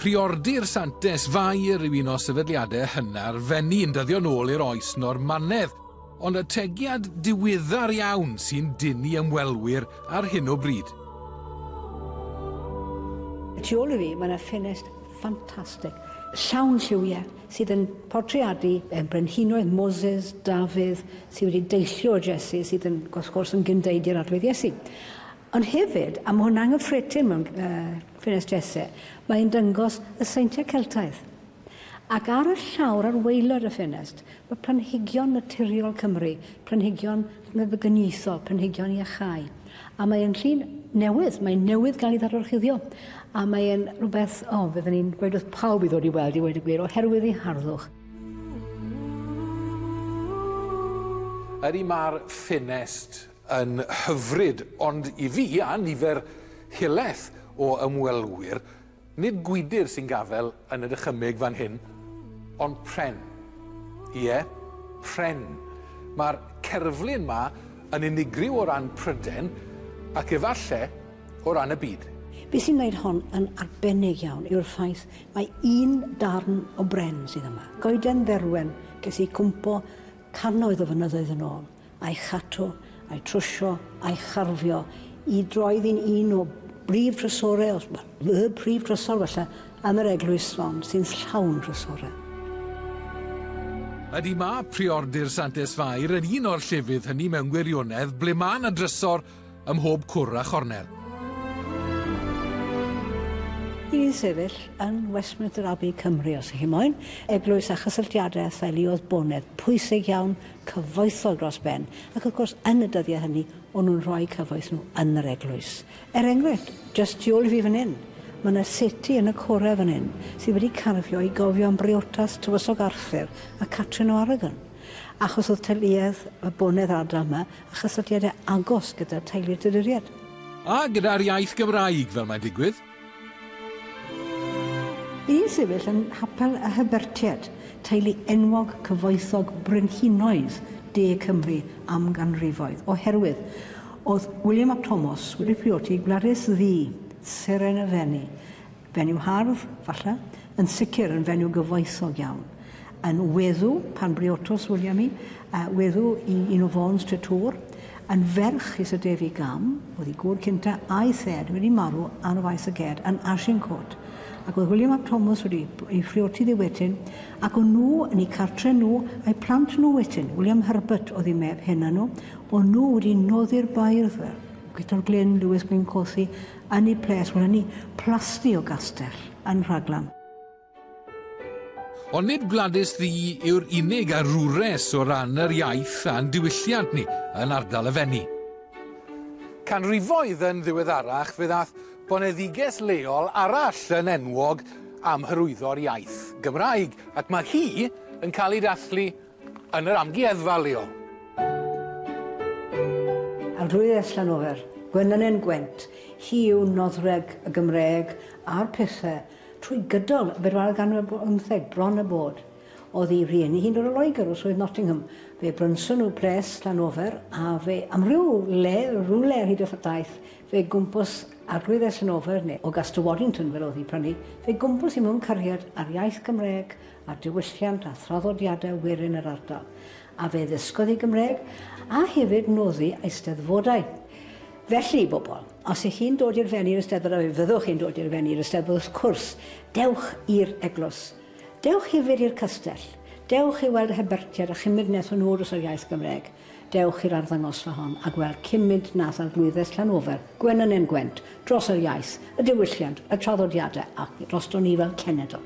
Priordir Santes Fair yw un o sefydliadau hynna'r fenni yn dyddio'n ôl i'r oes Normanedd, ond y tegiad diwyddar iawn sy'n dynnu ymwelwyr ar hyn o bryd. Y tu ôl i fi, mae yna ffenest ffantastig, llawn lliwiau, sydd yn portreadu y brenhinoedd Moses, Dafydd, sydd wedi deillio o Jesu, sydd yn, wrth gwrs, yn gynddeud i'r arglwydd Iesu. Ond hefyd, a mae hwnna'n gyffredin mewn uh, ffenest Jesse, mae'n dyngos y seintiau Celtaidd. Ac ar y llawr ar weilod y ffenest, mae planhigion naturiol Cymru, planhigion meddygyniaethol, planhigion iachau. A mae e'n llun newydd, mae'n newydd gael ei ddadorchuddio, a mae e'n rhywbeth, o, oh, fydden ni'n gweud wrth pawb i ddod i weld i wedi gwir, oherwydd ei harddwch. Ydy mae'r ffenest yn hyfryd, ond i fi a nifer hileth o ymwelwyr, Nid gwydr sy'n gafael yn y dychymyg fan hyn, ond pren. Ie, pren. Mae'r cerflun 'ma yn unigryw o ran Prydain, ac efallai, o ran y byd. Be' sy'n wneud hon yn arbennig iawn yw'r ffaith mai un darn o bren sydd yma. Goeden dderwen ges i cwmpo cannoedd o fynyddoedd yn ôl. a'i chadw, a'i trwsio, a'i charfio i droed i'n un o brif drysore, os y prif drysor falle, yn yr eglwys hon, sy'n llawn drysore. Ydy mae Priordy'r Santes Fair yn un o'r llefydd hynny mewn gwirionedd ble mae yna drysor ym mhob cwr a chornel. i sefyll yn Westminster Abbey, Cymru, os ych chi moyn, eglwys a chysylltiadau â theulu oedd bonedd pwysig iawn, cyfoethog dros ben, ac wrth gwrs, yn y dyddiau hynny, o'n nhw'n rhoi cyfoeth nhw yn yr eglwys. Er enghraifft, jyst tu ôl i fi fan hyn, mae yna seti yn y corau fan hyn sydd wedi carfio i gofio am briotas tywysog Arthur a Catrin o Aragon, achos oedd teuluedd y bonedd ardal yma a chysylltiadau agos gyda teulu'r Tuduriaid. A gyda'r iaith Gymraeg, fel mae'n digwydd. Bu'n sefyll yn Nghapel y Hybertiaid, teulu enwog cyfoethog brenhinoedd de Cymru am ganrifoedd, oherwydd oedd William ap Tomos wedi priodi Gwladys Ddu, Seren y Fenni, Fenyw hardd, falle, yn sicr yn fenyw gyfoethog iawn. Yn weddw, pan briodos William i, uh, weddw i un o Fons Tretŵr, yn ferch i Sir Defi Gam, oedd ei gŵr cynta, a'i thad wedi marw ar y faes y ged yn Agincourt, ac oedd William ap Thomas wedi ei phrioti ddi wedyn, ac o'n nhw yn ei cartre nhw a'i plant nhw wedyn, William Herbert oedd ei meb hena nhw, o'n nhw wedi noddi'r bairdd fel Guto'r Glyn, Lewis Gwyncothi, Yn y ples, wel yn y plasty o gastell yn Rhaglan. Ond nid Gwladys Ddu yw'r unig arwres o ran yr iaith a'n diwylliant ni yn ardal y Fenni. Canrifoedd yn ddiweddarach fe ddaeth boneddiges leol arall yn enwog am hyrwyddo'r iaith Gymraeg, ac mae hi yn cael ei dathlu Yn yr amgueddfa leol. Ar glwyddes Llanofer, Gwenlyn Gwent, hi yw nodwredd y Gymraeg a'r pethe trwy gydol y bedwaredd ganrif ar bymtheg, bron a bod. Oedd ei rieni hi'n dod o Loegr, o Swydd Nottingham. Fe brynson nhw ples Llanofer, a fe am ryw le, rywle ar hyd y daith, fe gwmpws Arglwyddes Llanofer, neu o Gastell Waddington fel oedd hi prynu, fe gwmpws hi mewn cariad â'r iaith Gymraeg, ar diwylliant a thraddodiadau werin yr ardal, a fe ddysgodd hi Gymraeg a hefyd noddi eisteddfodau. Felly, i bobl, os ych chi'n dod i'r Fenni i'r Eisteddfod a fe fyddwch chi'n dod i'r Fenni i'r Eisteddfod wrth cwrs, dewch i'r eglwys. Dewch hefyd i'r castell. Dewch i weld y Hebertiad a chymryd nes o nhw drws yr iaith Gymraeg. Dewch i'r arddangosfa hon a gweld cymint nath Arglwyddes Llanofer, Gwenynen Gwent, dros yr iaith, y diwylliant, y traddodiadau ac drosto ni fel cenedl.